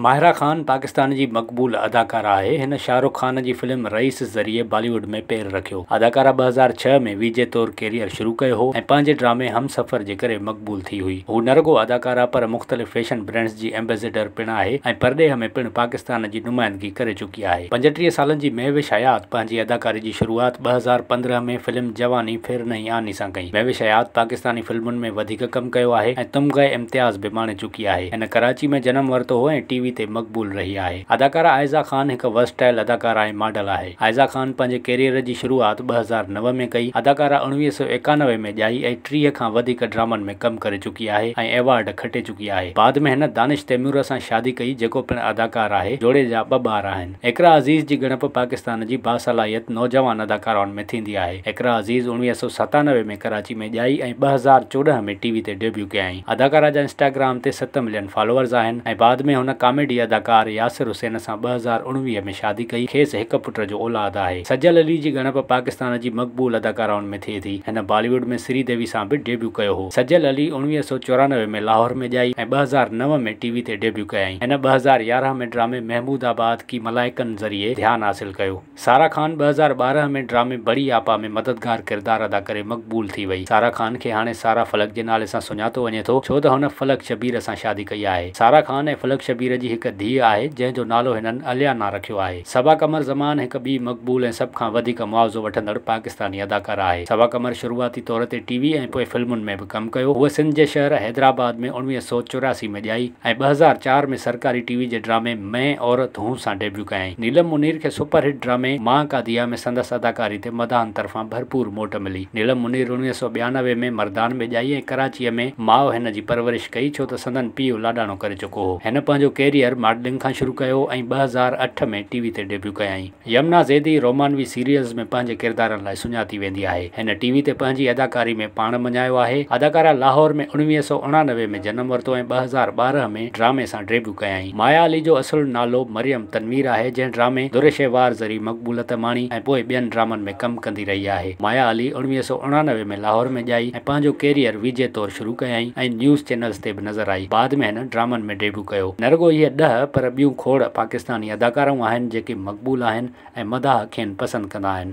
ماهرا خان پاڪستان جي مقبول اداڪارا آهي. هن شاهه رخ خان جي فلم رئيس ذريعي بالي ووڊ ۾ پير رکيو. اداڪارا ٻه هزار ڇهه ۾ وي جي طور ڪيريئر شروع ڪيو هو ۽ پنهنجي ڊرامي هم سفر جي ڪري مقبول ٿي هئي. هو نه رڳو اداڪارا پر مختلف فيشن برانڊز جي ايمبيسيڊر پڻ آهي ۽ پرڏيهه ۾ پڻ پاڪستان جي نمائندگي ڪري چڪي آهي. پنجٽيهه سالن جي مهوش حيات پنهنجي اداڪاري جي شروعات ٻه هزار پندرهن ۾ فلم جواني ڦر نهين آني سان ڪئي. مهوش حيات پاڪستاني فلمن ۾ وڌيڪ ڪم ڪيو آهي ۽ تمغه امتياز به ماڻي چڪي آهي. چڪي آهي. هن ڪراچي ۾ جنم ورتو هو ۽ ٽي وي تي مقبول رهي آهي. اداڪارا عائزه خان هڪ ورسٽائل اداڪارا ۽ ماڊل آهي. عائزه خان پنهنجي ڪيريئر جي شروعات ٻه هزار نو ۾ ڪئي. اداڪارا اڻويهه سؤ ايڪانوي ۾ ڄائي ۽ ٽيهه کان وڌيڪ ڊرامن ۾ ڪم ڪري چڪي آهي ۽ ايوارڊ کٽي چڪي آهي. بعد ۾ هن دانش تيمور سان شادي ڪئي جيڪو پڻ اداڪار آهي. جوڙي جا ٻه ٻار آهن. اقرا عزيز جي ڳڻپ پاڪستان جي باصلاحيت نوجوان اداڪارائن ۾ ٿيندي آهي. اقرا عزيز اڻويهه سؤ ستانوي ۾ ڪراچي ۾ ڄائي ۽ ٻه هزار چوڏهن ۾ ٽي وي تي ڊيبيو ڪيائين. اداڪارا جا انسٽاگرام تي ست ملين فالوورز آهن ۽ بعد ۾ هن ڪاميڊي اداڪار ياسر حسين سان ٻه هزار اڻويهه ۾ شادي ڪئي، کيس هڪ پٽ جو اولاد آهي. سجل علي جي ڳڻپ پاڪستان جي مقبول اداڪارائن ۾. ٿئي ٿي. هن بالي ووڊ ۾ سري ديوي سان به ڊيبيو ڪيو هو. سجل علي اڻويهه سؤ چورانوي ۾ لاهور ۾ ڄائي ۽ ٻه هزار نو ۾ ٽي وي تي ڊيبيو ڪيائين. هن ٻه هزار يارهن ۾ ڊرامي محمود آباد ڪي ملائڪن ذريعي ڌيان حاصل ڪيو. سارا خان ٻه هزار ٻارهن ۾ ڊرامي بڙي آپا ۾ مددگار ڪردار ادا ڪري مقبول ٿي وئي. سارا خان کي هاڻي سارا فلڪ جي نالي سان سڃاتو وڃي ٿو ڇو ته هن فلڪ شبير سان شادي ڪئي آهي. سارا خان ۽ فلڪ شبير جي هڪ ڌيء آهي جنهن جو نالو هنن اليانا رکيو آهي. صبا قمر زمان هڪ ٻي مقبول ۽ سڀ کان وڌيڪ معاوضو وٺندڙ پاڪستاني اداڪارا آهي. صبا قمر شروعاتي طور تي ٽي وي ۽ پوء فلمن ۾ به ڪم ڪيو. هوء سنڌ جي شهر حيدرآباد ۾ اڻويهه سؤ چورياسي ۾ ڄائي ۽ ٻه هزار چار ۾ سرڪاري ٽي وي جي ڊرامي مين عورت هون سان ڊيبيو ڪيائين. نيلم منير کي سپر هٽ ڊرامي ماء ڪا ديا ۾ سندس اداڪاري تي مداحن طرفان ڀرپور موٽ ملي. نيلم منير اڻويهه سؤ ٻيانوي ۾ مردان ۾ ڄائي ۽ ڪراچيء ۾ ماء هن جي پرورش ڪئي ڇو ته سندن پيء لاڏاڻو ڪري چڪو هو. هو. هن پنهنجو ڪيريئر ماڊلنگ کان شروع ڪيو ۽ ٻه هزار اٺ ۾ ٽي وي تي ڊيبيو ڪيائين. يمنا زيدي رومانوي سيريلز ۾ پنهنجي ڪردارن لاء سڃاتي ويندي آهي. هن ٽي وي تي پنهنجي اداڪاري ۾ پاڻ مڃايو آهي. اداڪاره لاهور ۾ اڻويهه سؤ اڻانوي ۾ جنم ورتو ۽ ٻه هزار ٻارهن ۾ ڊرامي سان ڊيبيو ڪيائين. مايا علي جو اصل نالو مريم تنوير آهي، جنهن ڊرامي در شهوار ذريعي مقبولت ماڻي ۽ پوء ٻين ڊرامن ۾ ڪم ڪندي رهي آهي. مايا علي اڻويهه سؤ اڻانوي ۾ لاهور ۾ ڄائي ۽ پنهنجو ڪيريئر ويجهي طور شروع ڪيائين ۽ نيوز چينلز تي به نظر آئي بعد ۾ هن ڊرامن ۾ ڊيبو ڪيو نه رڳو هيء ڏهه پر ٻيون کوڙ پاڪستاني اداڪارائون آهن جيڪي مقبول آهن ۽ مداح کين پسند ڪندا آهن.